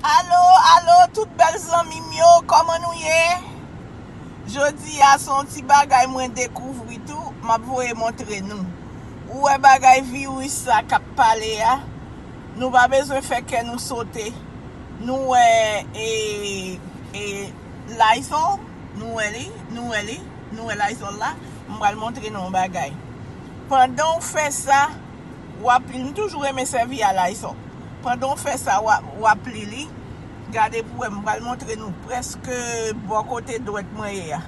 Alo alo tout bèl zanmim yo kòman nou ye Jodi a se yon ti bagay mwen dekouvri tou map voye montre nou Ou wè bagay virus sa kap pale a nou pa bezwen fè kè nou sote nou wè e e Lysol nou wè li nou wè li nou wè Lysol la m pral montre nou yon bagay pandan ou fè sa wap li. M toujou renmen sèvi a Lysol. Pandan w fè sa wap li li. Gade pou wè m pral montre nou prèske bò kote dwèt mwen ye a.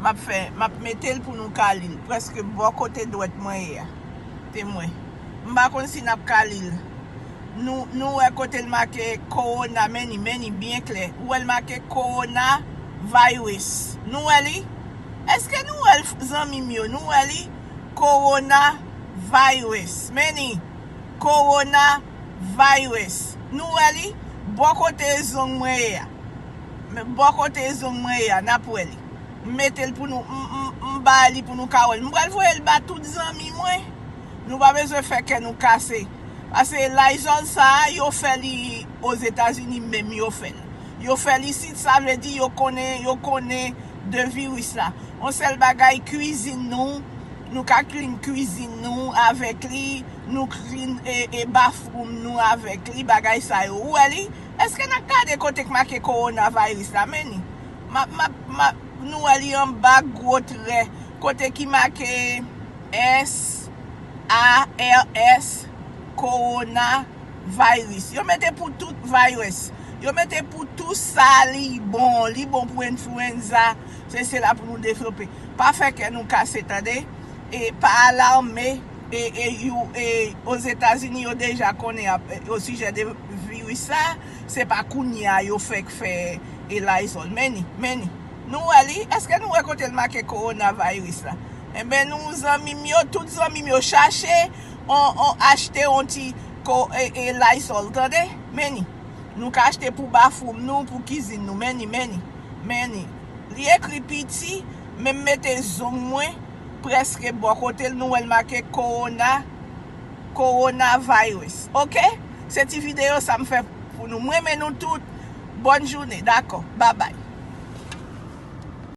Map fè map mete l pou nou ka li l prèske bò kote dwèt mwen ye a. Temwen. M pa konn si nap ka li l. Nou nou wè kote l make Corona men ni men ni byen klè. Ou wè l make Corona Virus. Nou wè li? Eske nou wè l zanmi m yo? Nou wè li? Corona virus Many Corona virus Nou wè li? Bò kote zong mwen ye a Bò kote zong mwen ye a Nap wè li M mete l pou nou M ba li pou nou ka wè l M pral voye l ba tout zanmi mwen Nou pa bezwen fè kè nou kase Pase Lysol sa yo fè li Ozetazini menm yo fè l Yo fè l isit sa vle di yo konnen Yo konnen de virus la on sèl bagay cuisine nou nou ka clean cuisine nou avèk li nou clean e bathroom nou avèk li bagay sa yo ou wè li eske nap gade kote k make corona virus la men ni map map map nou wè li anba gwo trè kote ki make S A R S corona. Virus. Yo mete pou tout Virus. Yo mete pou tou sa li bon. Li bon pou influenza. Se sela pou nou devlope. Pa fè kè nou kase tande. E pa alarme. E e you e Ozetazini yo deja konnen ap o sijè de virus sa. Se pa kounye a yo fèk fè e Lysol. Men ni. Men ni. Nou wè li. Eske nou wè kote l make Corona Virus la. Enben nou zanmi m yo. Tout zanmi m yo chache. achte yon ti lysol tande meni nou ka achte pou bafoum nou pou kizin nou meni meni meni li ekri piti men m mete zong mwen preske bò kote l nou wè l make kowona kowona virus ok se ti video sa m fè pou nou m renmen nou tout bòn joune dakò babay.